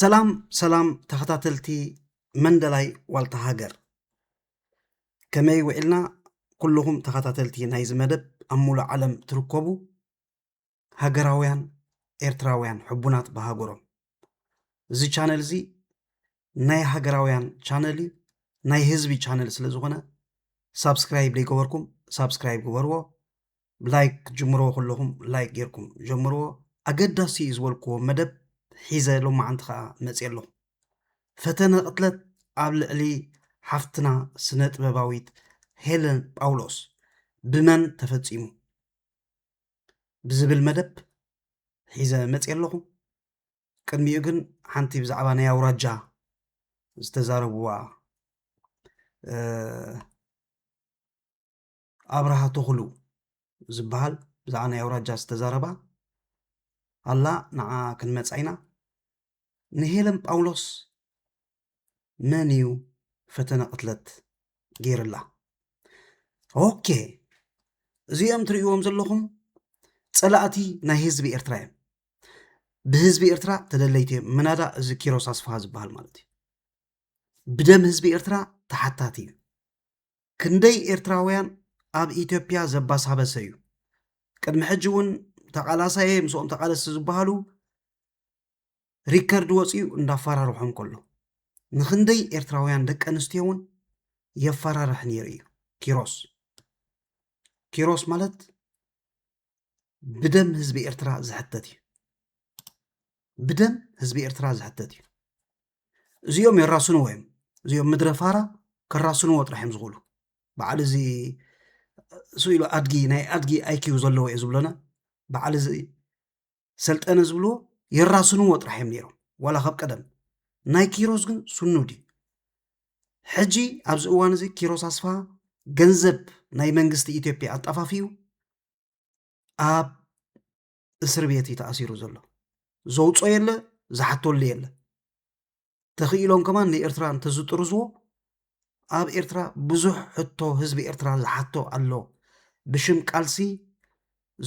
ሰላም ሰላም ተኸታተልቲ መንደላይ ዋልታ ሃገር ከመይ ውዒልና ኩልኹም ተኸታተልቲ ናይዚ መደብ ኣብ ሙሉእ ዓለም ትርከቡ ሃገራውያን ኤርትራውያን ሕቡናት ብሃገሮም እዚ ቻነል እዚ ናይ ሃገራውያን ቻነል እዩ ናይ ህዝቢ ቻነል ስለ ዝኾነ ሳብስክራይብ ዘይገበርኩም ሳብስክራይብ ግበርዎ ብላይክ ክትጅምርዎ ከለኹም ላይክ ጌርኩም ጀምርዎ ኣገዳሲ እዩ ዝበልክዎ መደብ ሒዘ ሎማዓንቲ ከዓ መፅየ ኣለኹ ፈተነ ቅትለት ኣብ ልዕሊ ሓፍትና ስነ ጥበባዊት ሄለን ጳውሎስ ብመን ተፈፂሙ ብዝብል መደብ ሒዘ መፅየ ኣለኹ ቅድሚኡ ግን ሓንቲ ብዛዕባ ናይ ኣውራጃ ዝተዛረብዋ ኣብርሃ ተኽሉ ዝበሃል ብዛዕባ ናይ ኣውራጃ ዝተዛረባ ኣላ ንዓ ክንመፃ ኢና ንሄለን ጳውሎስ መን እዩ ፈተነ ቅትለት ገይርላ? ኦኬ እዚኦም ትርእይዎም ዘለኹም ፀላእቲ ናይ ህዝቢ ኤርትራ እዮም። ብህዝቢ ኤርትራ ተደለይቲ እዮም። ምናዳ እዚ ኪሮስ ኣስፍሃ ዝበሃል ማለት እዩ ብደም ህዝቢ ኤርትራ ተሓታቲ እዩ። ክንደይ ኤርትራውያን ኣብ ኢትዮጵያ ዘባሳበሰ እዩ። ቅድሚ ሕጂ እውን ተቓላሳየ ምስኦም ተቓለስቲ ዝበሃሉ ሪከርድ ወፂኡ እንዳፈራርሖም ከሎ ንክንደይ ኤርትራውያን ደቂ ኣንስትዮ እውን የፈራርሕ ነይሩ እዩ ኪሮስ ኪሮስ ማለት ብደም ህዝቢ ኤርትራ ዝሕተት እዩ ብደም ህዝቢ ኤርትራ ዝሕተት እዩ እዚኦም የራስንዎ እዮም እዚኦም ምድረ ፋራ ከራስንዎ ጥራሕ እዮም ዝኽእሉ በዓል እዚ ስኢሉ ኣድጊ ናይ ኣድጊ ኣይኪው ዘለዎ እዩ ዝብለና በዓል እዚ ሰልጠነ ዝብልዎ የራስንዎ ጥራሕ እዮም ነይሮም ዋላ ካብ ቀደም ናይ ኪሮስ ግን ስኑድ እዩ ሕጂ ኣብዚ እዋን እዚ ኪሮስ ኣስፋ ገንዘብ ናይ መንግስቲ ኢትዮጵያ ኣጣፋፊኡ ኣብ እስር ቤት እዩ ተኣሲሩ ዘሎ ዘውፆ የለ ዝሓተሉ የለ ተኽኢሎም ከማን ንኤርትራ እንተዝጥርዝዎ ኣብ ኤርትራ ብዙሕ ሕቶ ህዝቢ ኤርትራ ዝሓቶ ኣሎ ብሽም ቃልሲ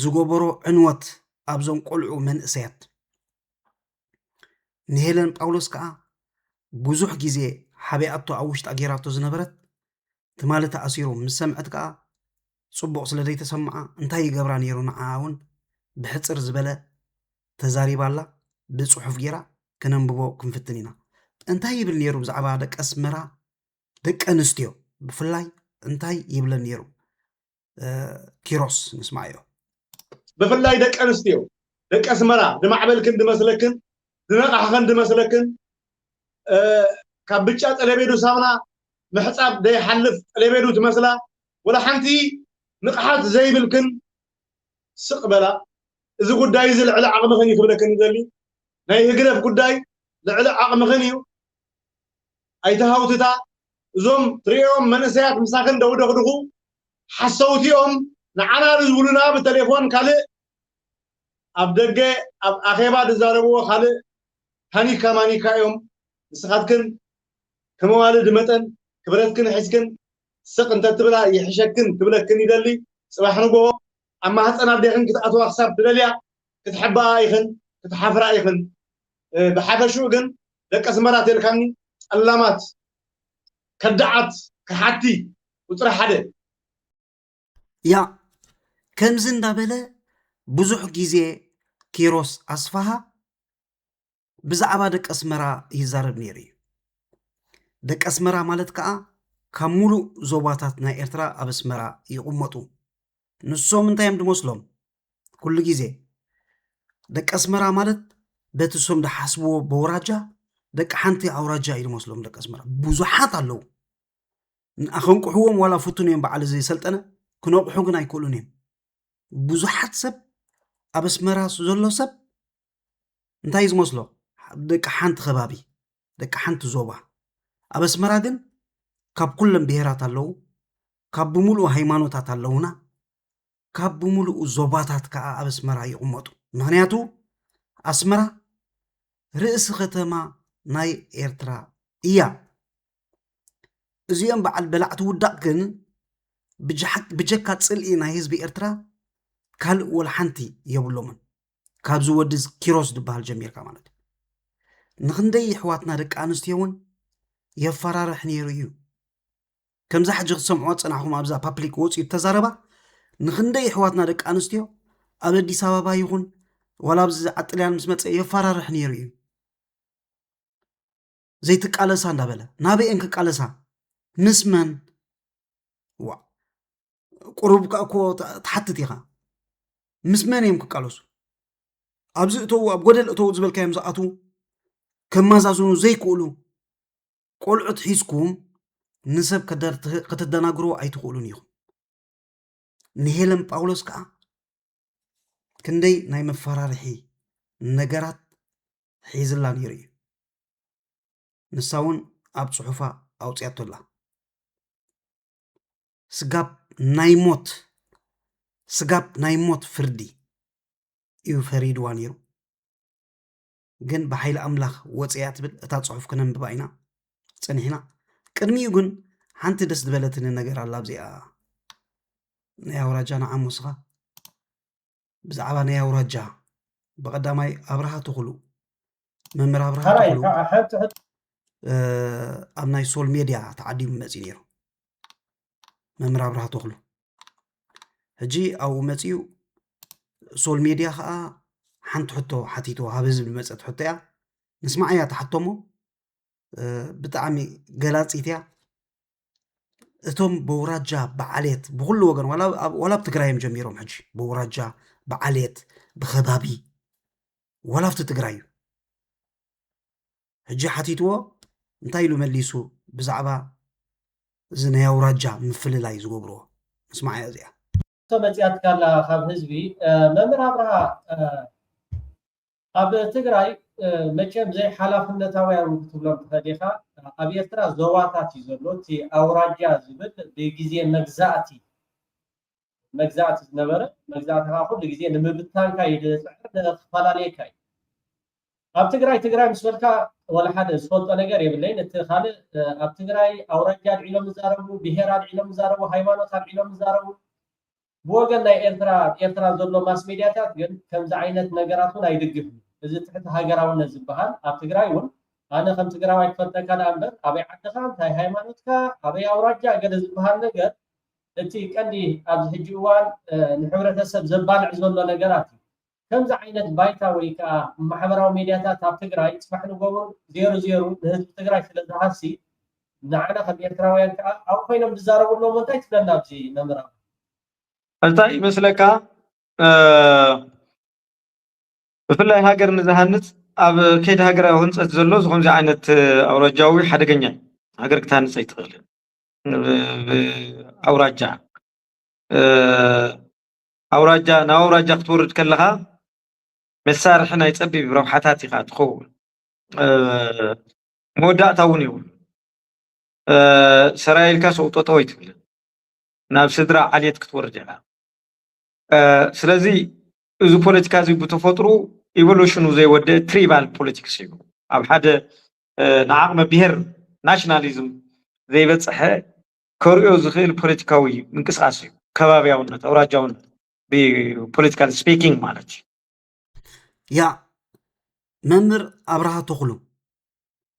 ዝገበሮ ዕንወት ኣብዞም ቆልዑ መንእሰያት ንሄለን ጳውሎስ ከዓ ብዙሕ ግዜ ሓቢኣቶ ኣብ ውሽጣ ጌራቶ ዝነበረት ትማሊ ተኣሲሮም ምስ ሰምዐት ከኣ ጽቡቕ ስለ ዘይተሰምዓ እንታይ ይገብራ ነይሩ ንዓኣ እውን ብሕጽር ዝበለ ተዛሪባላ ብጽሑፍ ጌራ ከነንብቦ ክንፍትን ኢና እንታይ ይብል ነይሩ ብዛዕባ ደቂ ኣስመራ ደቂ ኣንስትዮ ብፍላይ እንታይ ይብለን ነይሩ ኪሮስ ንስማዮ ብፍላይ ደቂ ኣንስትዮ ደቂ ኣስመራ ዝማዕበልክን ዝመስለክን ዝነቓሕኽን ዝመስለክን ካብ ብጫ ጠለቤዱ ሳሙና ምሕፃብ ዘይሓልፍ ጠለቤዱ ትመስላ ወላ ሓንቲ ንቕሓት ዘይብልክን ስቕ በላ እዚ ጉዳይ እዚ ልዕሊ ዓቕምኽን እዩ ክብለክን ዘሊ ናይ ህግደፍ ጉዳይ ልዕሊ ዓቕምኽን እዩ ኣይትሃውትታ እዞም ትሪኦም መንእሰያት ምሳኺ እንደውደኽድኹ ሓሰውቲ ኦም ንዓና ድዝብሉና ብተሌፎን ካልእ ኣብ ደገ ኣብ ኣኼባ ድዛረብዎ ካልእ ታኒካ ማኒካ እዮም ንስኻትክን ከመዋልድ መጠን ክብረትክን ሒዝክን ስቅ እንተትብላ ይሕሸክን ክብለክን ይደሊ ጽባሕ ንግሆ ኣብ ማህጸን ኣዴኽን ክትኣትዋ ክሳብ ትደልያ ክትሕብኣ ኢኽን ክትሓፍራ ኢኽን ብሓፈሽኡ ግን ደቂ ኣስመራ ተልካኒ ጠላማት ከዳዓት ከሓቲ ቁፅሪ ሓደ ያ ከምዚ እንዳበለ ብዙሕ ግዜ ኪሮስ ኣስፋሃ ብዛዕባ ደቂ ኣስመራ ይዛረብ ነይሩ እዩ ደቂ ኣስመራ ማለት ከዓ ካብ ሙሉእ ዞባታት ናይ ኤርትራ ኣብ ኣስመራ ይቕመጡ ንሶም እንታይ እዮም ድመስሎም ኩሉ ግዜ ደቂ ኣስመራ ማለት በቲ ሶም ድሓስብዎ በውራጃ ደቂ ሓንቲ ኣውራጃ እዩ ድመስሎም ደቂ ኣስመራ ብዙሓት ኣለዉ ኣኸንቅሕዎም ዋላ ፍቱን እዮም በዓል እዚ ሰልጠነ ክነቕሑ ግን ኣይክእሉን እዮም ብዙሓት ሰብ ኣብ ኣስመራ ዘሎ ሰብ እንታይ እዩ ዝመስሎ ደቂ ሓንቲ ከባቢ ደቂ ሓንቲ ዞባ ኣብ ኣስመራ ግን ካብ ኩለን ብሄራት ኣለዉ ካብ ብምሉእ ሃይማኖታት ኣለዉና ካብ ብምሉኡ ዞባታት ከዓ ኣብ ኣስመራ ይቕመጡ ምክንያቱ ኣስመራ ርእሲ ከተማ ናይ ኤርትራ እያ እዚኦም በዓል በላዕቲ ውዳቕ ግን ብጀካ ፅልኢ ናይ ህዝቢ ኤርትራ ካልእ ወላ ሓንቲ የብሎምን ካብዚ ወዲ ኪሮስ ዝበሃል ጀሚርካ ማለት እዩ ንክንደይ ኣሕዋትና ደቂ ኣንስትዮ እውን የፈራርሕ ነይሩ እዩ ከምዛ ሕጂ ክትሰምዕዋ ፀናሕኹም ኣብዛ ፓፕሊክ ወፅኡ ተዛረባ ንክንደይ ኣሕዋትና ደቂ ኣንስትዮ ኣብ ኣዲስ ኣበባ ይኹን ዋላ ኣብዚ ዓጥልያን ምስ መፀ የፈራርሕ ነይሩ እዩ ዘይትቃለሳ እንዳበለ ናበኤን ክቃለሳ ምስ መን ዋ ቁሩብ ከ እኮ ትሓትት ኢኻ ምስ መን እዮም ክቃለሱ ኣብዚ እተዉ ኣብ ጎደል እተዉ ዝበልካዮም ዝኣትዉ ከመዛዝኑ ዘይክእሉ ቆልዑት ሒዝኩም ንሰብ ከተደናግርዎ ኣይትኽእሉን ኢኹም ንሄለን ጳውሎስ ከዓ ክንደይ ናይ መፈራርሒ ነገራት ሒዝላ ነይሩ እዩ ንሳ እውን ኣብ ፅሑፋ ኣውፅኣቶ ኣላ ስጋብ ናይ ሞት ስጋብ ናይ ሞት ፍርዲ እዩ ፈሪድዋ ነይሩ ግን ብሓይሊ ኣምላኽ ወፅያ ትብል እታ ፅሑፍ ክነንብባ ኢና ፀኒሕና ቅድሚኡ ግን ሓንቲ ደስ ዝበለትኒ ነገር ኣላ ኣብዚኣ ናይ ኣውራጃና ዓሙስኻ ብዛዕባ ናይ ኣውራጃ ብቀዳማይ ኣብርሃ ትኽሉ መምህር ኣብርሃ ትኽሉ ኣብ ናይ ሶል ሜድያ ተዓዲሙ መፅኡ ነይሩ መምህር ኣብርሃ ትኽሉ ሕጂ ኣብኡ መፅኡ ሶል ሜድያ ከዓ ሓንቲ ሕቶ ሓቲቶ ኣብ ህዝቢ መፀት ሕቶ እያ ንስማዕ እያ ተሓቶሞ ብጣዕሚ ገላፂት እያ እቶም በውራጃ ብዓሌት ብኩሉ ወገን ዋላ ኣብ ትግራይ እዮም ጀሚሮም ሕጂ በውራጃ ብዓሌት ብከባቢ ዋላ ኣብቲ ትግራይ እዩ ሕጂ ሓቲትዎ እንታይ ኢሉ መሊሱ ብዛዕባ እዚ ናይ ኣውራጃ ምፍልላይ ዝገብርዎ ምስማዕ እያ እዚኣ መፅያትካ ኣላ ካብ ህዝቢ መምህር ኣብርሃ ኣብ ትግራይ መቸም ዘይሓላፍነታውያን ክትብሎም ትኽእል ኢኻ ኣብ ኤርትራ ዞባታት እዩ ዘሎ እቲ ኣውራጃ ዝብል ብግዜ መግዛእቲ መግዛእቲ ዝነበረ መግዛእትኻ ኩሉ ግዜ ንምብታንካ እዩ ዝፅዕር ንክፈላለየካ እዩ ኣብ ትግራይ ትግራይ ምስ በልካ ወላ ሓደ ዝፈልጦ ነገር የብለይን እቲ ካልእ ኣብ ትግራይ ኣውራጃ ኣልዒሎም ዝዛረቡ ብሄር ኣልዒሎም ዝዛረቡ ሃይማኖት ኣልዒሎም ዝዛረቡ ብወገን ናይ ኤርትራ ኤርትራ ዘሎ ማስ ሜድያታት ግን ከምዚ ዓይነት ነገራት እውን ኣይድግፍን እዚ ትሕቲ ሃገራውነት ዝበሃል ኣብ ትግራይ እውን ኣነ ከም ትግራዋይ ክፈልጠካ ደኣ እምበር ኣበይ ዓድኻ እንታይ ሃይማኖትካ ኣበይ ኣውራጃ ገለ ዝበሃል ነገር እቲ ቀንዲ ኣብዚ ሕጂ እዋን ንሕብረተሰብ ዘባልዕ ዘሎ ነገራት እዩ ከምዚ ዓይነት ባይታ ወይ ከኣ ማሕበራዊ ሜድያታት ኣብ ትግራይ ጽባሕ ንጎቦ ዜሩ ዜሩ ንህዝቢ ትግራይ ስለ ዝሃሲ ንዓና ከም ኤርትራውያን ከኣ ኣብኡ ኮይኖም ዝዛረቡ ኣለዉ እሞ እንታይ ትብለና ኣብዚ መምህር ኣማን። እንታይ ይመስለካ ብፍላይ ሃገር ንዝሃንጽ ኣብ ከይዲ ሃገራዊ ህንጸት ዘሎ እዚ ከምዚ ዓይነት ኣውራጃዊ ሓደገኛ እዩ። ሃገር ክትሃንጽ ኣይትኽእልን ብኣውራጃ። ኣውራጃ ናብ ኣውራጃ ክትወርድ ከለኻ መሳርሒ ናይ ፀቢብ ረብሓታት ኢኻ ትኸውን። መወዳእታ እውን የብሉ ሰራይ ኢልካ ሰው ጠጠው ኣይትብልን ናብ ስድራ ዓሌት ክትወርድ ኢኻ ስለዚ እዚ ፖለቲካ እዚ ብተፈጥሩ ኢቮሉሽኑ ዘይወደአ ትሪባል ፖለቲክስ እዩ ኣብ ሓደ ንዓቕመ ብሄር ናሽናሊዝም ዘይበፀሐ ከርእዮ ዝኽእል ፖለቲካዊ ምንቅስቓስ እዩ። ከባብያውነት፣ ኣውራጃውነት ብፖለቲካል ስፒኪንግ ማለት እዩ። ያ መምህር ኣብርሃ ተኽሉ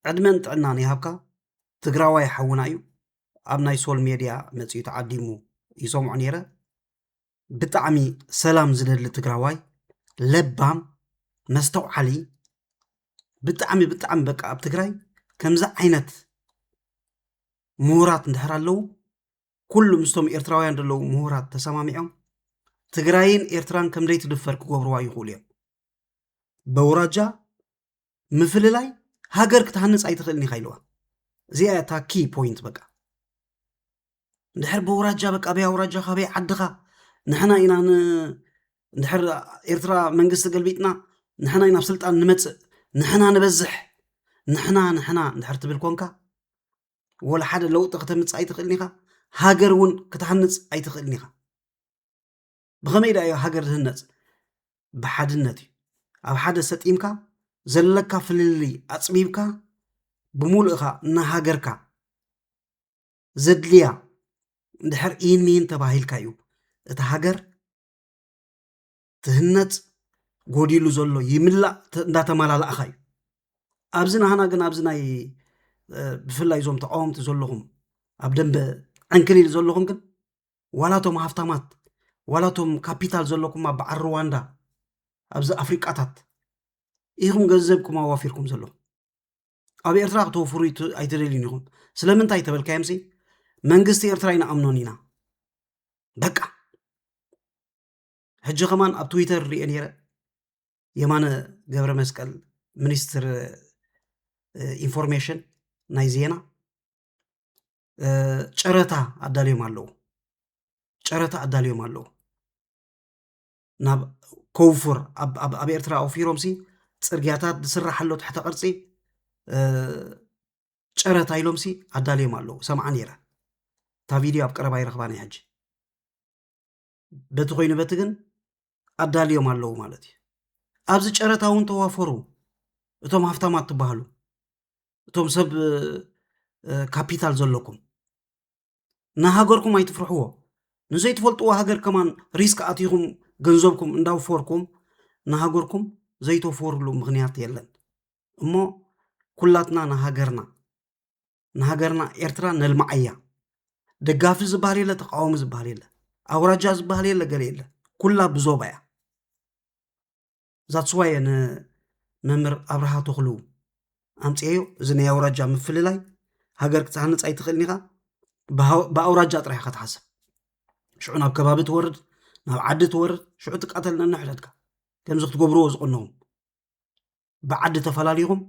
ዕድመን ጥዕናን ይሃብካ ትግራዋይ ሓውና እዩ ኣብ ናይ ሶል ሜድያ መፂኡ ተዓዲሙ ይሰምዖ ነይረ ብጣዕሚ ሰላም ዝደሊ ትግራዋይ ለባም መስተውዓሊ ብጣዕሚ ብጣዕሚ በቃ ኣብ ትግራይ ከምዚ ዓይነት ምሁራት እንድሕር ኣለዉ ኩሉ ምስቶም ኤርትራውያን ዘለዉ ምሁራት ተሰማሚዖም ትግራይን ኤርትራን ከምደይ ትድፈር ክገብርዋ ይኽእሉ እዮም በውራጃ ምፍልላይ ሃገር ክትሃንፅ ኣይትኽእልን ኢኻ ኢልዋ እዚኣ እታ ኪ ፖይንት በቃ እንድሕር ብውራጃ በቃ በይ ኣውራጃ ካበይ ዓድኻ ንሕና ኢና እንድሕር ኤርትራ መንግስቲ ገልቢጥና ንሕና ኢና ኣብ ስልጣን ንመፅእ ንሕና ንበዝሕ ንሕና ንሕና እንድሕር ትብል ኮንካ ወላ ሓደ ለውጢ ክተምፅእ ኣይትኽእልን ኢኻ ሃገር እውን ክትሃንፅ ኣይትኽእልን ኢኻ ብኸመይ ዳዮ ሃገር ዝህነፅ ብሓድነት እዩ ኣብ ሓደ ሰጢምካ ዘለካ ፍልልይ ኣፅቢብካ ብምሉእኻ ንሃገርካ ዘድልያ እንድሕር ኢን ሚን ተባሂልካ እዩ እቲ ሃገር ትህነፅ ጎዲሉ ዘሎ ይምላእ እንዳተመላለእኻ እዩ ኣብዚ ናህና ግን ኣብዚ ናይ ብፍላይ እዞም ተቃወምቲ ዘለኹም ኣብ ደንበ ዕንክሊል ዘለኹም ግን ዋላ እቶም ሃፍታማት ዋላ እቶም ካፒታል ዘለኩም ኣብ በዓል ሩዋንዳ ኣብዚ ኣፍሪቃታት ኢኹም ገንዘብኩም ኣዋፊርኩም ዘለኹም ኣብ ኤርትራ ክተወፍሩ ኣይትደልዩን ኢኹም ስለምንታይ ተበልካዮም ሲ መንግስቲ ኤርትራ ይንኣምኖን ኢና በቃ ሕጂ ከማን ኣብ ትዊተር ሪኦ ነይረ የማነ ገብረ መስቀል ሚኒስትር ኢንፎርሜሽን ናይ ዜና ጨረታ ኣዳልዮም ኣለዉ ጨረታ ኣዳልዮም ኣለዉ ናብ ኮውፉር ኣብ ኤርትራ ኣውፊሮም ሲ ፅርግያታት ዝስራሕ ኣሎ ትሕተ ቅርፂ ጨረታ ኢሎም ሲ ኣዳልዮም ኣለዉ ሰምዓ ነይረ እታ ቪድዮ ኣብ ቀረባ ይረኽባ ናይ ሕጂ በቲ ኮይኑ በቲ ግን ኣዳልዮም ኣለዉ ማለት እዩ ኣብዚ ጨረታ እውን ተዋፈሩ እቶም ሃፍታማት ትበሃሉ እቶም ሰብ ካፒታል ዘለኩም ንሃገርኩም ኣይትፍርሕዎ ንዘይትፈልጥዎ ሃገር ከማን ሪስክ ኣትኹም ገንዘብኩም እንዳውፈርኩም ንሃገርኩም ዘይተወፈርሉ ምክንያት የለን እሞ ኩላትና ንሃገርና ንሃገርና ኤርትራ ነልማዓያ ደጋፊ ዝበሃል የለ ተቃዋሚ ዝበሃል የለ ኣውራጃ ዝበሃል የለ ገለ የለ ኩላ ብዞባ እያ ዛትስዋየ ንመምህር ኣብርሃ ተኽሉ ኣምፅኤዮ እዚ ናይ ኣውራጃ ምፍልላይ ሃገር ክትሃንፅ ኣይትኽእልን ኢኻ ብኣውራጃ ጥራሕ ኢኻ ትሓስብ ሽዑ ናብ ከባቢ ትወርድ ናብ ዓዲ ትወርድ ሽዑ ትቃተል ነንሕደድካ ከምዚ ክትገብርዎ ዝቕንኹም ብዓዲ ተፈላሊኹም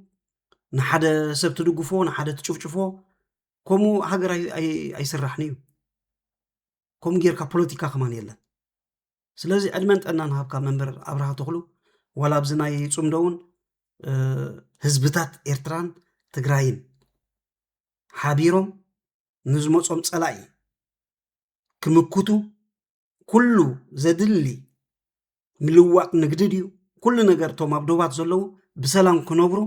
ንሓደ ሰብ ትድግፎ ንሓደ ትጭፍጭፎ ከምኡ ሃገር ኣይስራሕን እዩ ከምኡ ጌርካ ፖለቲካ ከማን የለን ስለዚ ዕድመን ጠና ንሃብካ መምህር ኣብርሃ ተኽሉ ዋላ ኣብዚ ናይ ፅምዶ እውን ህዝብታት ኤርትራን ትግራይን ሓቢሮም ንዝመፆም ፀላኢ ክምክቱ ኩሉ ዘድሊ ምልዋጥ ንግዲ ድዩ ኩሉ ነገር እቶም ኣብ ዶባት ዘለዉ ብሰላም ክነብሩ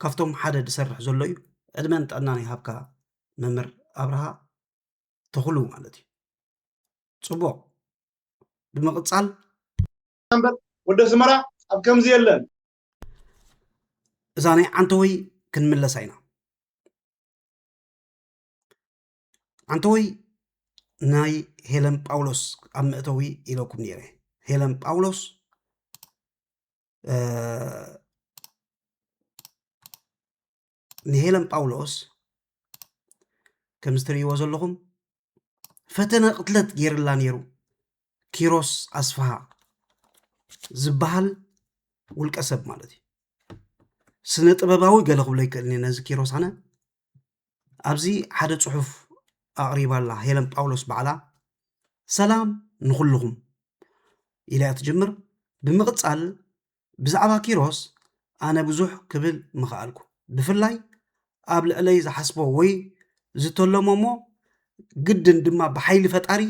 ካብቶም ሓደ ዝሰርሕ ዘሎ እዩ ዕድመን ጥዕናን ይሃብካ መምህር ኣብርሃ ተኽሉ ማለት እዩ ፅቡቅ ብምቅፃል እምበር ወደ ስመራ ኣብ ከምዚ የለን እዛ ናይ ዓንተወይ ክንምለሳ ኢና ኣንተወይ ናይ ሄለን ጳውሎስ ኣብ መእተዊ ኢለኩም ነይረ ሄለን ጳውሎስ ንሄለን ጳውሎስ ከም ዝትርእይዎ ዘለኹም ፈተነ ቅትለት ገይርላ ነይሩ ኪሮስ ኣስፍሃ ዝበሃል ውልቀ ሰብ ማለት እዩ ስነ ጥበባዊ ገለ ክብሎ ይክእል ነዚ ኪሮስ ኣነ ኣብዚ ሓደ ጽሑፍ ኣቕሪባ ኣላ ሄለን ጳውሎስ ባዕላ ሰላም ንኹልኹም ኢላ እያ ትጅምር ብምቕጻል ብዛዕባ ኪሮስ ኣነ ብዙሕ ክብል ምኽኣልኩ ብፍላይ ኣብ ልዕለይ ዝሓስቦ ወይ ዝተለሞ እሞ ግድን ድማ ብሓይሊ ፈጣሪ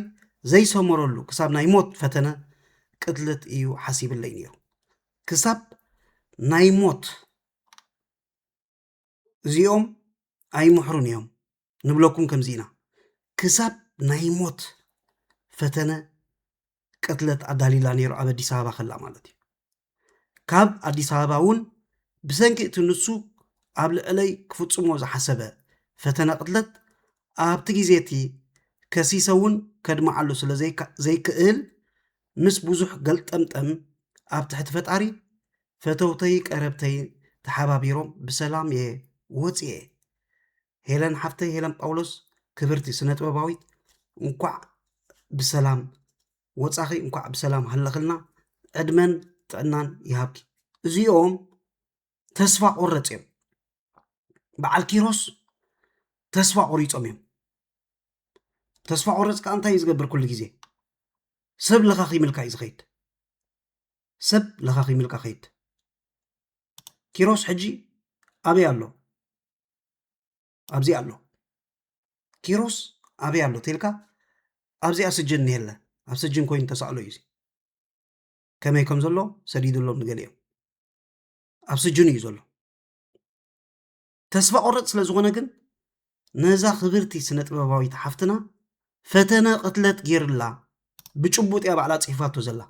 ዘይሰመረሉ ክሳብ ናይ ሞት ፈተነ ቅትለት እዩ ሓሲብለይ ነይሩ ክሳብ ናይ ሞት እዚኦም ኣይምሕሩን እዮም ንብለኩም ከምዚ ኢና ክሳብ ናይ ሞት ፈተነ ቅትለት ኣዳሊላ ነይሩ ኣብ ኣዲስ ኣበባ ከላ ማለት እዩ ካብ ኣዲስ ኣበባ እውን ብሰንኪ እቲ ንሱ ኣብ ልዕለይ ክፍፅሞ ዝሓሰበ ፈተነ ቅትለት ኣብቲ ግዜ እቲ ከሲሰ እውን ከድመዓሉ ስለ ዘይክእል ምስ ብዙሕ ገልጠምጠም ኣብ ትሕቲ ፈጣሪ ፈተውተይ ቀረብተይ ተሓባቢሮም ብሰላም እየ ወፅየ ሄለን ሓፍተይ ሄለን ጳውሎስ ክብርቲ ስነ ጥበባዊት እንኳዕ ብሰላም ወፃኺ እንኳዕ ብሰላም ሃለኽልና ዕድመን ጥዕናን ይሃብኪ እዚኦም ተስፋ ቆረፅ እዮም በዓል ኪሮስ ተስፋ ቆሪፆም እዮም ተስፋ ቆረፅ ከዓ እንታይ እዩ ዝገብር ኩሉ ግዜ ሰብ ለኻኺምልካ እዩ ዝኸይድ ሰብ ለኻኺምልካ ከይድ ኪሮስ ሕጂ ኣበይ ኣሎ ኣብዚ ኣሎ ኪሮስ ኣበይ ኣሎ ተልካ ኣብዚኣ ስጅን እኒሄለ ኣብ ስጅን ኮይኑ ተሳእሎ እዩ ከመይ ከም ዘሎ ሰዲድሎም ንገሊኦም ኣብ ስጁን እዩ ዘሎ ተስፋ ቆረፅ ስለ ዝኾነ ግን ነዛ ክብርቲ ስነ ጥበባዊት ሓፍትና ፈተነ ቅትለት ገይርላ ብጭቡጥ እያ ባዕላ ፅሒፋቶ ዘላ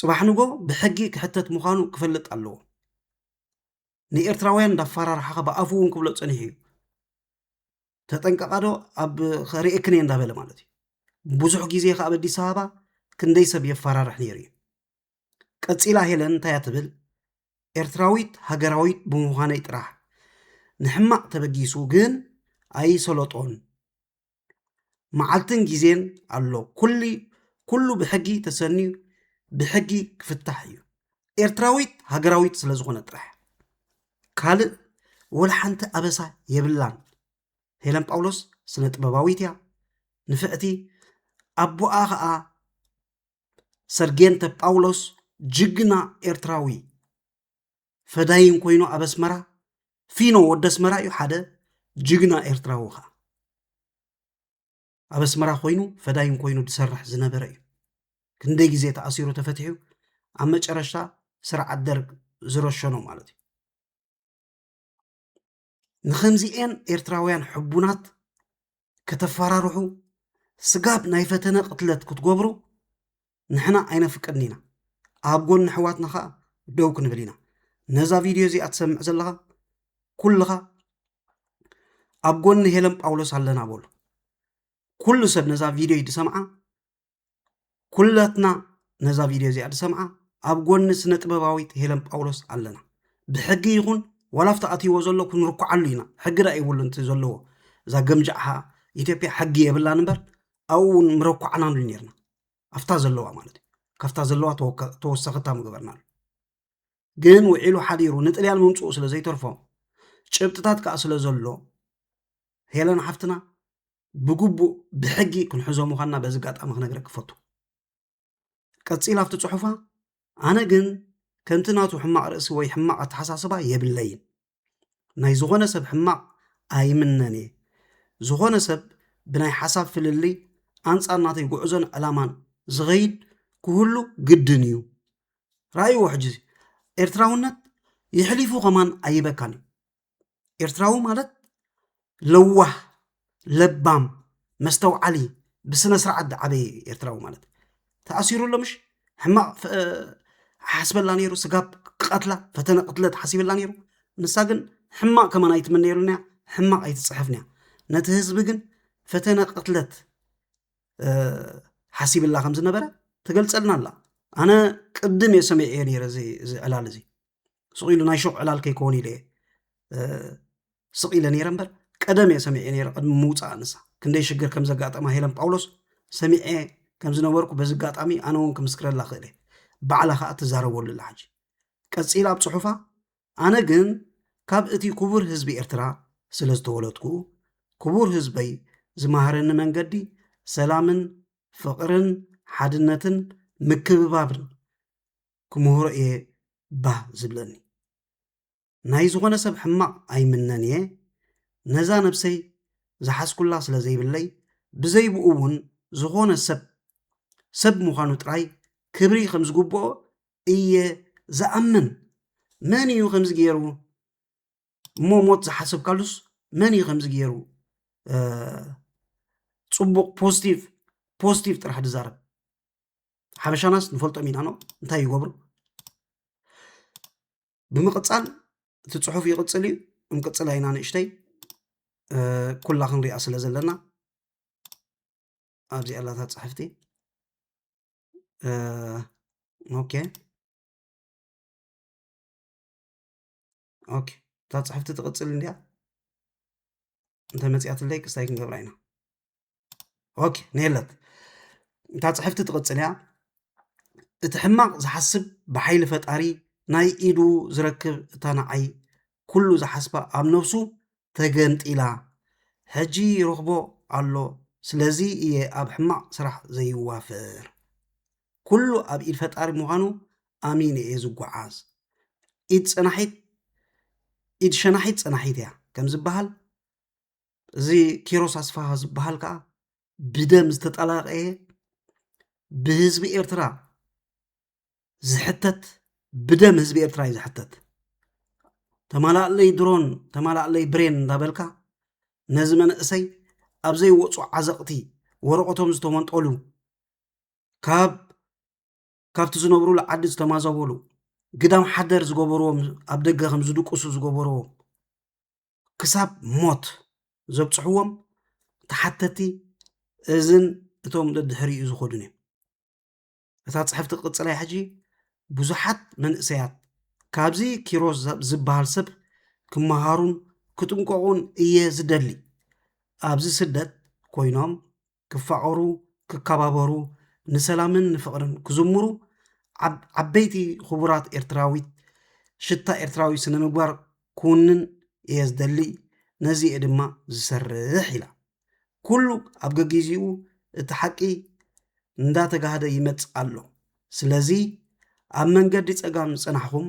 ፅባሕ ንጎ ብሕጊ ክሕተት ምዃኑ ክፈልጥ ኣለዎ ንኤርትራውያን እንዳፈራርሓኻ ብኣፉ እውን ክብሎ ፀኒሑ እዩ ተጠንቀቃ ዶ ኣብ ርእክን እየ እንዳበለ ማለት እዩ ብዙሕ ግዜ ከዓ ኣብ ኣዲስ ኣበባ ክንደይ ሰብ የፈራርሕ ነይሩ እዩ ቀጺላ ሄለን እንታይ እያ ትብል? ኤርትራዊት ሃገራዊት ብምዃነይ ጥራሕ ንሕማቕ ተበጊሱ ግን ኣይሰለጦን መዓልትን ግዜን ኣሎ ኩሉ ኩሉ ብሕጊ ተሰንዩ ብሕጊ ክፍታሕ እዩ ኤርትራዊት ሃገራዊት ስለ ዝኾነ ጥራሕ ካልእ ወላ ሓንቲ ኣበሳ የብላን ሄለን ጳውሎስ ስነ ጥበባዊት እያ ንፍዕቲ ኣቦኣ ኸዓ ሰርጌንተ ጳውሎስ ጅግና ኤርትራዊ ፈዳይን ኮይኑ ኣብ ኣስመራ ፊኖ ወደ ኣስመራ እዩ ሓደ ጅግና ኤርትራዊ ከዓ ኣብ ኣስመራ ኮይኑ ፈዳይን ኮይኑ ዝሰርሕ ዝነበረ እዩ ክንደይ ግዜ ተኣሲሩ ተፈትሑ ኣብ መጨረሻ ስርዓት ደርግ ዝረሸኖ ማለት እዩ ንኸምዚኤን ኤርትራውያን ሕቡናት ከተፈራርሑ ስጋብ ናይ ፈተነ ቅትለት ክትገብሩ ንሕና ኣይነፍቅድን ኢና ኣብ ጎኒ ኣሕዋትና ከዓ ደው ክንብል ኢና ነዛ ቪድዮ እዚኣ ትሰምዕ ዘለኻ ኩልኻ ኣብ ጎኒ ሄለን ጳውሎስ ኣለና በሉ ኩሉ ሰብ ነዛ ቪድዮ ድሰምዓ ኩላትና ነዛ ቪድዮ እዚኣ ዝሰምዓ ኣብ ጎኒ ስነ ጥበባዊት ሄለን ጳውሎስ ኣለና ብሕጊ ይኹን ዋላ ኣብቲ ኣትይዎ ዘሎ ክንርኩዓሉ ኢና ሕጊ ዳ ይብሉ እቲ ዘለዎ እዛ ገምጃዕሃ ኢትዮጵያ ሕጊ የብላን እምበር ኣብኡ እውን ምረኳዕናሉ ነርና ኣብታ ዘለዋ ማለት እዩ ካብታ ዘለዋ ተወሰኸታ ምገበርናሉ ግን ውዒሉ ሓዲሩ ንጥልያን ምምፅኡ ስለ ዘይተርፎ ጭብጥታት ከዓ ስለ ዘሎ ሄለን ሓፍትና ብግቡእ ብሕጊ ክንሕዞ ምዃንና በዚ ኣጋጣሚ ክነግረ ክፈቱ ቀፂል ኣብቲ ፅሑፋ ኣነ ግን ከምቲ ናቱ ሕማቕ ርእሲ ወይ ሕማቕ ኣተሓሳስባ የብለይን ናይ ዝኾነ ሰብ ሕማቕ ኣይምነን እየ ዝኾነ ሰብ ብናይ ሓሳብ ፍልልይ ኣንፃር ናተይ ጉዕዞን ዕላማን ዝኸይድ ክህሉ ግድን እዩ ራእይዎ ሕጂ ኤርትራውነት ይሕሊፉ ከማን ኣይበካን እዩ ኤርትራዊ ማለት ለዋህ ለባም መስተውዓሊ ብስነ ስርዓት ዝዓበየ እዩ ኤርትራዊ ማለት ተኣሲሩ ኣሎ ምሽ ሕማቕ ሓስበላ ነይሩ ስጋብ ክቐትላ ፈተነ ቅትለት ሓሲብላ ነይሩ ንሳ ግን ሕማቕ ከማን ኣይትምነየሉን እያ ሕማቕ ኣይትፅሕፍን እያ ነቲ ህዝቢ ግን ፈተነ ቅትለት ሓሲብላ ከም ዝነበረ ትገልፀልና ኣላ ኣነ ቅድም እየ ሰሚዐ ነይረ እዚ ዕላል እዚ ስቕ ኢሉ ናይ ሾቕ ዕላል ከይከውን ኢለ ስቕ ኢለ ነይረ እምበር ቀደም እየ ሰሚዐ ነይረ ቅድሚ ምውፃእ ንሳ ክንደይ ሽግር ከም ዘጋጠማ ሄለን ጳውሎስ ሰሚዐ ከም ዝነበርኩ በዚ ኣጋጣሚ ኣነ እውን ክምስክረላ ክእል እየ ባዕላ ከዓ ትዛረበሉ ኣላ ሕጂ ቀፂላ ኣብ ፅሑፋ ኣነ ግን ካብ እቲ ክቡር ህዝቢ ኤርትራ ስለ ዝተወለድኩ ክቡር ህዝበይ ዝመሃረኒ መንገዲ ሰላምን ፍቕርን ሓድነትን ምክብባብን ክምህሮ እየ ባህ ዝብለኒ። ናይ ዝኾነ ሰብ ሕማቕ ኣይምነን እየ፣ ነዛ ነብሰይ ዝሓዝኩላ ስለ ዘይብለይ፣ ብዘይ ብኡ እውን ዝኾነ ሰብ ሰብ ምዃኑ ጥራይ ክብሪ ከም ዝግብኦ እየ ዝኣምን። መን እዩ ከምዚ ገይሩ እሞ ሞት ዝሓሰብካሉስ መን እዩ ከምዚ ገይሩ ፅቡቕ ፖዚቲቭ ፖዚቲቭ ጥራሕ ዝዛረብ ሓበሻናስ ንፈልጦም ኢና ኖ እንታይ ይገብሩ ብምቕፃል እቲ ፅሑፍ ይቕፅል እዩ እንቅፅል ኣይና ንእሽተይ ኩላ ክንሪኣ ስለ ዘለና ኣብዚ ኣላታ ፅሕፍቲ ኦኬ ኦኬ እታ ፅሕፍቲ ትቕፅል እንድያ እንተመፅያትለይ ክስታይ ክንገብራ ኢና ኦኬ ነየለት እታ ፅሕፍቲ ትቕፅል እያ እቲ ሕማቕ ዝሓስብ ብሓይሊ ፈጣሪ ናይ ኢዱ ዝረክብ እታ ንዓይ ኩሉ ዝሓስባ ኣብ ነብሱ ተገንጢላ ሕጂ ይረኽቦ ኣሎ ስለዚ እየ ኣብ ሕማቕ ስራሕ ዘይዋፈር ኩሉ ኣብ ኢድ ፈጣሪ ምዃኑ ኣሚነ እየ ዝጓዓዝ። ኢድ ጸናሒት ኢድ ሸናሒት ጸናሒት እያ ከም ዝበሃል እዚ ኪሮስ ኣስፋሃ ዝበሃል ከዓ ብደም ዝተጠላቀየ ብህዝቢ ኤርትራ ዝሕተት ብደም ህዝቢ ኤርትራ እዩ ዝሕተት ተማላእለይ ድሮን ተማላእለይ ብሬን እንዳበልካ ነዚ መንእሰይ ኣብ ዘይወፁ ዓዘቕቲ ወረቐቶም ዝተመንጠሉ ካብ ካብቲ ዝነብሩሉ ዓዲ ዝተማዘበሉ ግዳም ሓደር ዝገበርዎም ኣብ ደገ ከም ዝድቅሱ ዝገበርዎም ክሳብ ሞት ዘብፅሕዎም ተሓተቲ እዝን እቶም ደድሕሪኡ ዝኸዱን እዮም እታ ፅሕፍቲ ቅፅላይ ሕጂ ብዙሓት መንእሰያት ካብዚ ኪሮስ ዝበሃል ሰብ ክመሃሩን ክጥንቀቑን እየ ዝደሊ ኣብዚ ስደት ኮይኖም ክፋቐሩ፣ ክካባበሩ፣ ንሰላምን ንፍቕርን ክዝምሩ ዓበይቲ ኹቡራት ኤርትራዊት ሽታ ኤርትራዊ ስነ ምግባር ክውንን እየ ዝደሊ ነዚ እየ ድማ ዝሰርሕ ኢላ። ኩሉ ኣብ ገጊዚኡ እቲ ሓቂ እንዳተጋህደ ይመጽእ ኣሎ። ስለዚ ኣብ መንገዲ ጸጋም ዝጸናሕኹም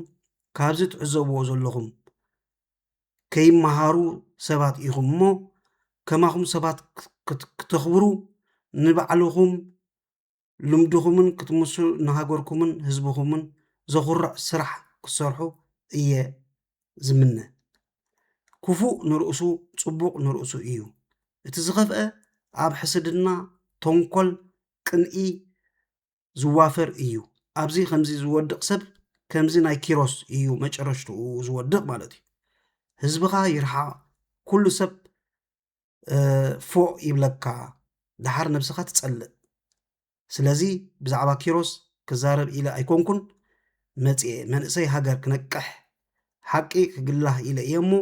ካብዚ ትዕዘብዎ ዘለኹም ከይመሃሩ ሰባት ኢኹም እሞ ከማኹም ሰባት ክተኽብሩ ንባዕልኹም ልምድኹምን ክትምስሉ ንሃገርኩምን ህዝብኹምን ዘኹርዕ ስራሕ ክትሰርሑ እየ ዝምነ። ክፉእ ንርእሱ ጽቡቕ ንርእሱ እዩ። እቲ ዝኸፍአ ኣብ ሕስድና፣ ተንኮል፣ ቅንኢ፣ ዝዋፈር እዩ ኣብዚ ከምዚ ዝወድቅ ሰብ ከምዚ ናይ ኪሮስ እዩ መጨረሽትኡ ዝወድቅ ማለት እዩ ህዝብኻ ይርሓቕ ኩሉ ሰብ ፎእ ይብለካ ደሓር ነብስኻ ትጸልእ ስለዚ ብዛዕባ ኪሮስ ክዛረብ ኢለ ኣይኮንኩን መጽኤ መንእሰይ ሃገር ክነቅሕ ሓቂ ክግላህ ኢለ እየ እሞ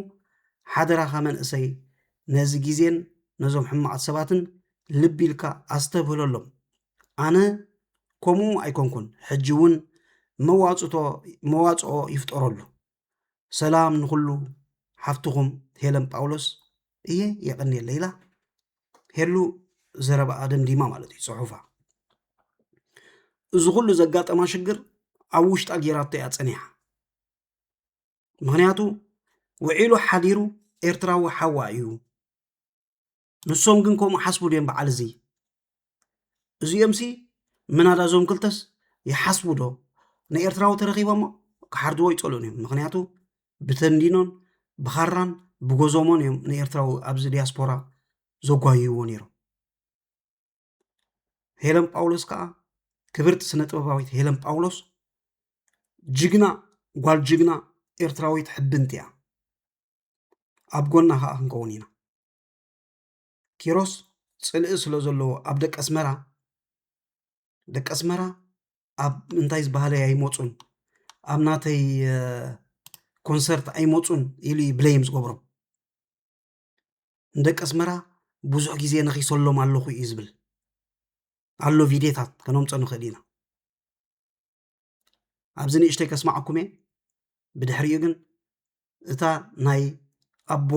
ሓደራኻ መንእሰይ ነዚ ግዜን ነዞም ሕማቓት ሰባትን ልቢ ኢልካ ኣስተብህለሎም ኣነ ከምኡ ኣይኮንኩን ሕጂ እውን መዋጽቶ መዋጽኦ ይፍጠረሉ ሰላም ንኹሉ ሓፍትኹም ሄለን ጳውሎስ እየ የቐንየለይ ኢላ ሄሉ ዘረባኣ ደምዲማ ማለት እዩ ፅሑፋ እዚ ኩሉ ዘጋጠማ ሽግር ኣብ ውሽጣ ጌራቶ እያ ፀኒሓ ምክንያቱ ውዒሉ ሓዲሩ ኤርትራዊ ሓዋ እዩ ንሶም ግን ከምኡ ሓስቡ ድዮም በዓል እዚ እዚኦም ሲ ምናዳ እዞም ክልተስ ይሓስቡ ዶ ንኤርትራዊ ተረኪቦሞ ክሓርድዎ ይፀልኡን እዮም ምክንያቱ ብተንዲኖን ብኻራን ብጎዞሞን እዮም ንኤርትራዊ ኣብዚ ዲያስፖራ ዘጓይይዎ ነይሮም ሄለን ጳውሎስ ከዓ ክብርቲ ስነ ጥበባዊት ሄለን ጳውሎስ ጅግና ጓል ጅግና ኤርትራዊት ሕብንቲ እያ ኣብ ጎና ከዓ ክንከውን ኢና ኪሮስ ፅልኢ ስለ ዘለዎ ኣብ ደቂ ኣስመራ ደቂ ኣስመራ ኣብ እንታይ ዝበሃለይ ኣይመፁን ኣብ ናተይ ኮንሰርት ኣይመፁን ኢሉ ብለይም ዝገብሮም ንደቂ ኣስመራ ብዙሕ ግዜ ነኺሰሎም ኣለኹ እዩ ዝብል ኣሎ ቪድዮታት ከነምፆ ንኽእል ኢና ኣብዚ ንእሽተይ ከስማዓኩም እየ ብድሕሪኡ ግን እታ ናይ ኣቦ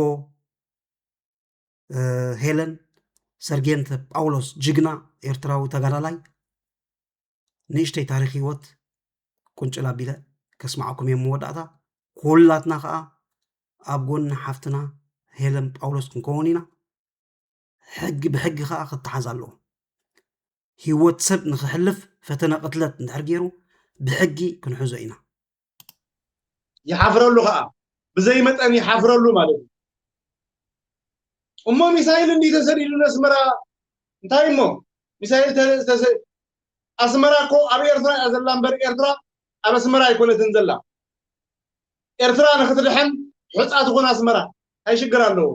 ሄለን ሰርጌንተ ጳውሎስ ጅግና ኤርትራዊ ተጋዳላይ ንእሽተይ ታሪክ ሂወት ቁንጭል ኣቢለ ከስማዓኩም እየ መወዳእታ ኩላትና ከዓ ኣብ ጎኒ ሓፍትና ሄለን ጳውሎስ ክንከውን ኢና ሕጊ ብሕጊ ከዓ ክተሓዝ ኣለዎ ሂወት ሰብ ንክሕልፍ ፈተነ ቅትለት እንድሕር ገይሩ ብሕጊ ክንሕዞ ኢና ይሓፍረሉ ኸኣ ብዘይ መጠን ይሓፍረሉ ማለት እዩ እሞ ሚሳይል እንዲ ተሰዲዱ ነስመራ እንታይ እሞ ሚሳይል ኣስመራ እኮ ኣብ ኤርትራ እያ ዘላ እምበር ኤርትራ ኣብ ኣስመራ ኣይኮነትን ዘላ ኤርትራ ንክትድሕን ሕፃ ትኹን ኣስመራ እንታይ ሽግር ኣለዎ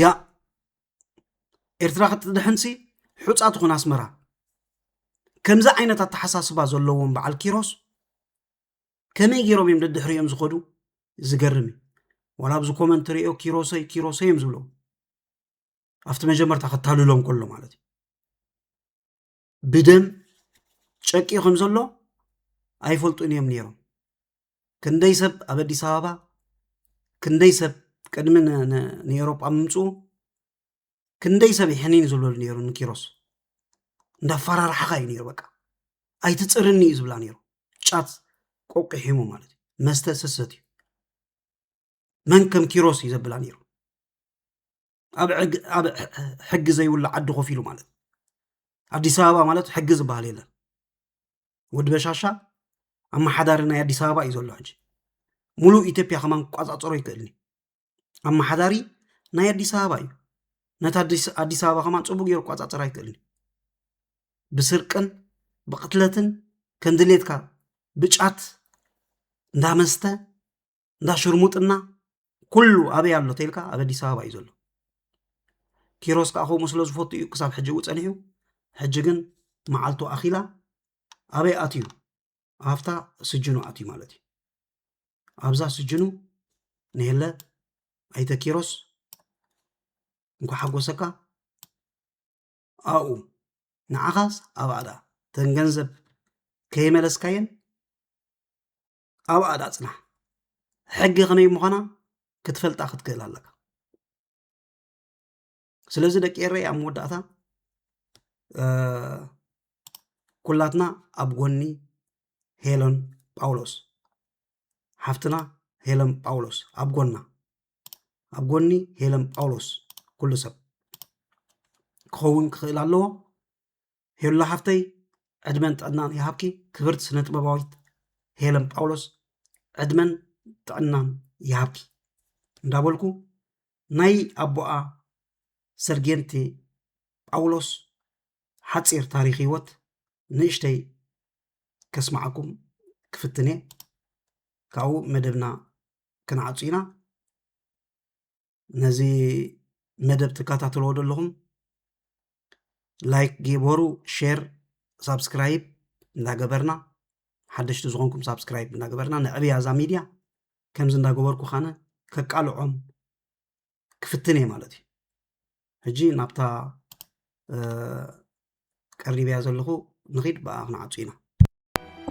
ያ ኤርትራ ክትድሕንሲ ሑፃ ትኹን ኣስመራ ከምዚ ዓይነት ኣተሓሳስባ ዘለዎም በዓል ኪሮስ ከመይ ገይሮም እዮም ደድሕሪኦም ዝኸዱ ዝገርም እዩ ዋላ ኣብዚ ኮመንት ሪኦ ኪሮሰይ ኪሮሰይ እዮም ዝብሎም ኣብቲ መጀመርታ ከታልሎም ከሎ ማለት እዩ ብደም ጨቂዩ ከም ዘሎ ኣይፈልጡን እዮም ነይሮም። ክንደይ ሰብ ኣብ ኣዲስ ኣበባ ክንደይ ሰብ ቅድሚ ንኤውሮጳ ምምፅኡ ክንደይ ሰብ ይሕኒን ዝብለሉ ነይሩ ንኪሮስ እንዳፈራርሓኻ እዩ ነይሩ በቃ ኣይትፅርኒ እዩ ዝብላ ነይሩ ጫት ቆቂሒሙ ማለት እዩ መስተ ስሰት እዩ መን ከም ኪሮስ እዩ ዘብላ ነይሩ ኣብ ሕጊ ዘይብሉ ዓዲ ኮፍ ኢሉ ማለት ኣዲስ ኣበባ ማለት ሕጊ ዝበሃል የለን ወዲ በሻሻ ኣመሓዳሪ ናይ ኣዲስ ኣበባ እዩ ዘሎ ሕጂ ሙሉእ ኢትዮጵያ ከማን ክቋፃፀሮ ይክእልኒ ኣመሓዳሪ ናይ ኣዲስ ኣበባ እዩ ነቲ ኣዲስ ኣበባ ከማን ፅቡቅ ገይሩ ክቋፃፀር ኣይክእልኒ ብስርቅን ብቅትለትን ከምድሌትካ ብጫት እንዳመስተ እንዳ ሽርሙጥና ኩሉ ኣበይ ኣሎ ተልካ ኣብ ኣዲስ ኣበባ እዩ ዘሎ ኪሮስ ከዓ ከምኡ ስለ ዝፈቱ እዩ ክሳብ ሕጂ ው ፀኒሑ ሕጂ ግን መዓልቱ ኣኺላ ኣበይ ኣትዩ ኣብታ ስጅኑ ኣትዩ ማለት እዩ ኣብዛ ስጅኑ ንሄለ ኣይተ ኪሮስ እንኳ ሓጎሰካ ኣብኡ ንዓኻስ ኣብኣ ደኣ ተን ገንዘብ ከይመለስካየን ኣብኣ ዳ ፅናሕ ሕጊ ከመይ ምዃና ክትፈልጣ ክትክእል ኣለካ ስለዚ ደቂ ኤረይ ኣብ መወዳእታ ኩላትና ኣብ ጎኒ ሄለን ጳውሎስ ሓፍትና ሄለን ጳውሎስ ኣብ ጎና ኣብ ጎኒ ሄለን ጳውሎስ ኩሉ ሰብ ክኸውን ክኽእል ኣለዎ ሄሉ ሓፍተይ ዕድመን ጥዕናን ይሃብኪ ክብርቲ ስነ ጥበባዊት ሄለን ጳውሎስ ዕድመን ጥዕናን ይሃብኪ እንዳበልኩ ናይ ኣቦኣ ሰርጌንቲ ጳውሎስ ሓፂር ታሪክ ህይወት ንእሽተይ ከስማዓኩም ክፍትኔ ካብኡ መደብና ክንዓፁ ኢና ነዚ መደብ ትከታተልዎ ዘለኹም ላይክ ግበሩ ሼር ሳብስክራይብ እንዳገበርና ሓደሽቲ ዝኾንኩም ሳብስክራይብ እንዳገበርና ንዕብያ እዛ ሚድያ ከምዚ እንዳገበርኩ ካነ ከቃልዖም ክፍትን እየ ማለት እዩ ሕጂ ናብታ ቀሪበያ ዘለኹ ንኺድ ብኣ ክንዓጹ ኢና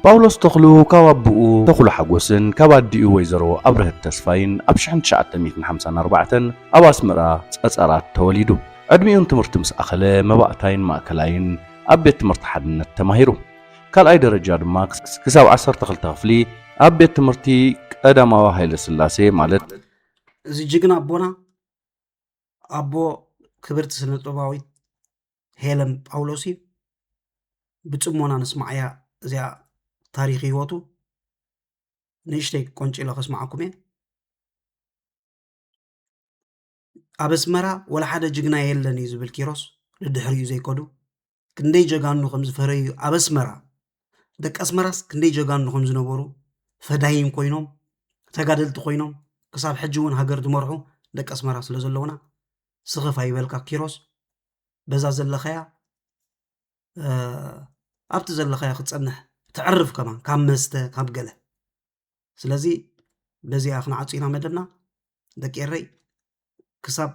ጳውሎስ ተኽሉ ካብ ኣቦኡ ተኽሉ ሓጎስን ካብ ኣዲኡ ወይዘሮ ኣብርሀት ተስፋይን ኣብ ሽሕን ትሽዓተ ሚእትን ሓምሳን ኣርባዕተን ኣብ ኣስመራ ጸጸራት ተወሊዱ። ዕድሚኡን ትምህርቲ ምስ ኣኸለ መባእታይን ማእከላይን ኣብ ቤት ትምህርቲ ሓድነት ተማሂሩ። ካልኣይ ደረጃ ድማ ክሳብ ዓሰርተ ክልተ ክፍሊ ኣብ ቤት ትምህርቲ ቀዳማዊ ሃይለ ስላሴ ማለት እዚ ጅግና ኣቦና ኣቦ ክብርቲ ስነጥበባዊት ሄለን ጳውሎስ እዩ ብፅሞና ንስማዕያ እዚኣ ታሪክ ህይወቱ ንእሽተይ ቆንጭሎ ከስማዓኩም እየ ኣብ ኣስመራ ወላ ሓደ ጅግና የለን እዩ ዝብል ኪሮስ ንድሕሪኡ ዘይከዱ ክንደይ ጀጋኑ ከም ዝፈረዩ ኣብ ኣስመራ ደቂ ኣስመራስ ክንደይ ጀጋኑ ከም ዝነበሩ ፈዳይን ኮይኖም ተጋደልቲ ኮይኖም ክሳብ ሕጂ እውን ሃገር ዝመርሑ ደቂ ኣስመራ ስለ ዘለውና ስኽፍ ኣይበልካ ኪሮስ በዛ ዘለኸያ ኣብቲ ዘለኸያ ክትፀንሕ ተዕርፍ ከማን ካብ መስተ ካብ ገለ ስለዚ በዚኣ ክንዓፁ ኢና መደብና ደቂ ኤረይ ክሳብ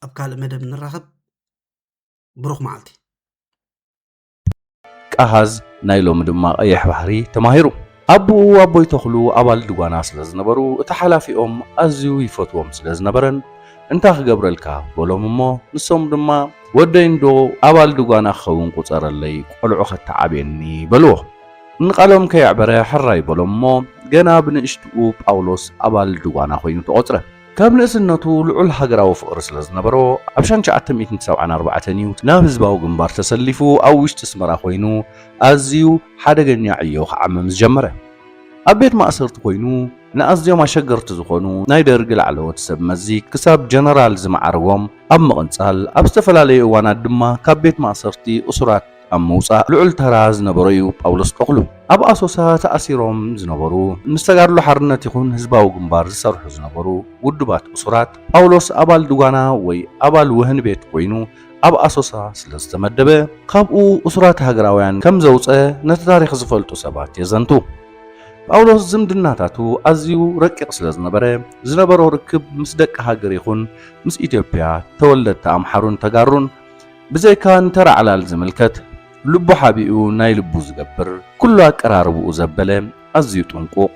ኣብ ካልእ መደብ ንራኸብ ብሩኽ መዓልቲ። ቀሃዝ ናይ ሎሚ ድማ ቀይሕ ባሕሪ ተማሂሩ። ኣቡኡ ኣቦይ ተኽሉ ኣባል ድጓና ስለ ዝነበሩ እቲ ሓላፊኦም ኣዝዩ ይፈትዎም ስለ ዝነበረን እንታይ ክገብረልካ በሎም እሞ ንሶም ድማ ወደይ እንዶ ኣባል ድጓና ክኸውን ቁጸረለይ ቆልዑ ከተዓብየኒ በልዎ። ንቃሎም ከየዕበረ ሕራይ በሎም እሞ ገና ብንእሽትኡ ጳውሎስ ኣባል ድጓና ኮይኑ ተቖጽረ። ካብ ንእስነቱ ልዑል ሃገራዊ ፍቕሪ ስለ ዝነበሮ፣ ኣብ ሻን ትሽዓተ ሚእትን ሰብዓን ኣርባዕተን እዩ ናብ ህዝባዊ ግንባር ተሰሊፉ ኣብ ውሽጢ ኣስመራ ኮይኑ ኣዝዩ ሓደገኛ ዕዮ ክዓምም ዝጀመረ። ኣብ ቤት ማእሰርቲ ኮይኑ ንኣዝዮም ኣሸገርቲ ዝኾኑ ናይ ደርግ ላዕለዎት ሰብ መዚ ክሳብ ጀነራል ዝመዓርጎም ኣብ ምቕንጻል፣ ኣብ ዝተፈላለዩ እዋናት ድማ ካብ ቤት ማእሰርቲ እሱራት ኣብ ምውጻእ ልዑል ተራ ዝነበሮ እዩ ጳውሎስ ተኽሉ። ኣብ ኣሶሳ ተኣሲሮም ዝነበሩ፣ ምስ ተጋድሎ ሓርነት ይኹን ህዝባዊ ግንባር ዝሰርሑ ዝነበሩ ውዱባት እሱራት፣ ጳውሎስ ኣባል ድጓና ወይ ኣባል ወህኒ ቤት ኮይኑ ኣብ ኣሶሳ ስለ ዝተመደበ፣ ካብኡ እሱራት ሃገራውያን ከም ዘውጸ ነቲ ታሪኽ ዝፈልጡ ሰባት የዘንቱ። ጳውሎስ ዝምድናታቱ ኣዝዩ ረቂቕ ስለ ዝነበረ፣ ዝነበሮ ርክብ ምስ ደቂ ሃገር ይኹን ምስ ኢትዮጵያ፣ ተወለድቲ ኣምሓሩን ተጋሩን፣ ብዘይካ ንተራ ዕላል ዝምልከት ልቡ ሓቢኡ ናይ ልቡ ዝገብር፣ ኩሉ ኣቀራርባኡ ዘበለ፣ ኣዝዩ ጥንቁቕ፣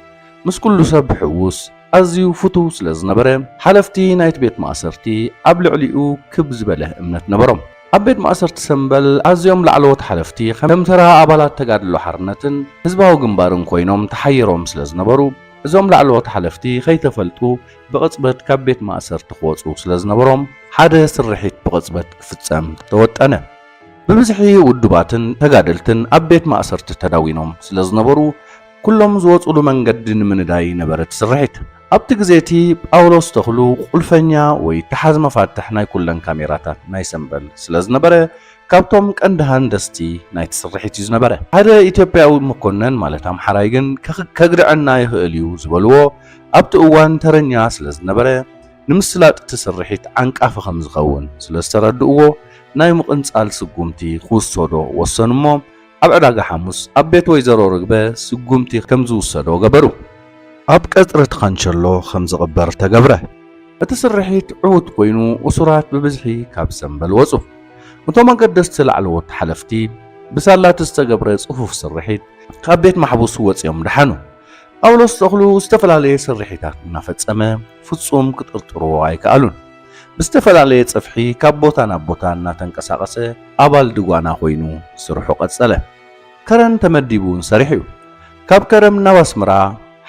ምስ ኩሉ ሰብ ብሕውስ፣ ኣዝዩ ፍቱው ስለ ዝነበረ፣ ሓለፍቲ ናይቲ ቤት ማእሰርቲ ኣብ ልዕሊኡ ክብ ዝበለ እምነት ነበሮም። ኣብ ቤት ማእሰርቲ ሰምበል ኣዝዮም ላዕለዎት ሓለፍቲ ከም ተራ ኣባላት ተጋድሎ ሓርነትን ህዝባዊ ግንባርን ኮይኖም ተሓይሮም ስለ ዝነበሩ፣ እዞም ላዕለዎት ሓለፍቲ ከይተፈልጡ ብቕጽበት ካብ ቤት ማእሰርቲ ክወጹ ስለ ዝነበሮም፣ ሓደ ስርሒት ብቕጽበት ክፍጸም ተወጠነ። ብብዝሒ ውዱባትን ተጋደልትን ኣብ ቤት ማእሰርቲ ተዳዊኖም ስለ ዝነበሩ፣ ኩሎም ዝወጹሉ መንገዲ ንምንዳይ ነበረ እቲ ስርሒት። ኣብቲ ግዜ እቲ፣ ጳውሎስ ተኽሉ ቁልፈኛ ወይ ተሓዝ መፋትሕ ናይ ኩለን ካሜራታት ናይ ሰምበል ስለ ዝነበረ፣ ካብቶም ቀንዲ ሃንደስቲ ናይቲ ስርሒት እዩ ዝነበረ። ሓደ ኢትዮጵያዊ መኮነን ማለት ኣምሓራይ ግን ከግድዐና ይኽእል እዩ ዝበልዎ ኣብቲ እዋን ተረኛ ስለ ዝነበረ ንምስላጥ እቲ ስርሒት ዓንቃፊ ከም ዝኸውን ስለ ዝተረድእዎ ናይ ምቕንጻል ስጉምቲ ክውሰዶ ወሰኑ እሞ ኣብ ዕዳጋ ሓሙስ ኣብ ቤት ወይዘሮ ርግበ ስጉምቲ ከም ዝውሰዶ ገበሩ። ኣብ ቀጽሪ ትኻንቸሎ ከም ዝቕበር ተገብረ። እቲ ስርሒት ዕዉት ኮይኑ እሱራት ብብዝሒ ካብ ሰምበል ወጹ። እቶም ኣገደስቲ ላዕለዎት ሓለፍቲ ብሳላ'ቲ ዝተገብረ ጽፉፍ ስርሒት ካብ ቤት ማሕቡስ ወጺኦም ደሓኑ። ጳውሎስ ተኽሉ ዝተፈላለየ ስርሒታት እናፈጸመ ፍጹም ክጥርጥርዎ ኣይከኣሉን። ብዝተፈላለየ ጽፍሒ ካብ ቦታ ናብ ቦታ እናተንቀሳቐሰ ኣባል ድጓና ኮይኑ ስርሑ ቀጸለ። ከረን ተመዲቡ እውን ሰሪሑ እዩ። ካብ ከረም ናብ ኣስመራ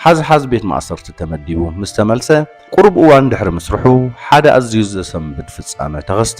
ሓዝሓዝ ቤት ማእሰርቲ ተመዲቡ ምስ ተመልሰ ቁሩብ እዋን ድሕሪ ምስርሑ ሓደ ኣዝዩ ዘሰንብድ ፍጻመ ተኸስተ።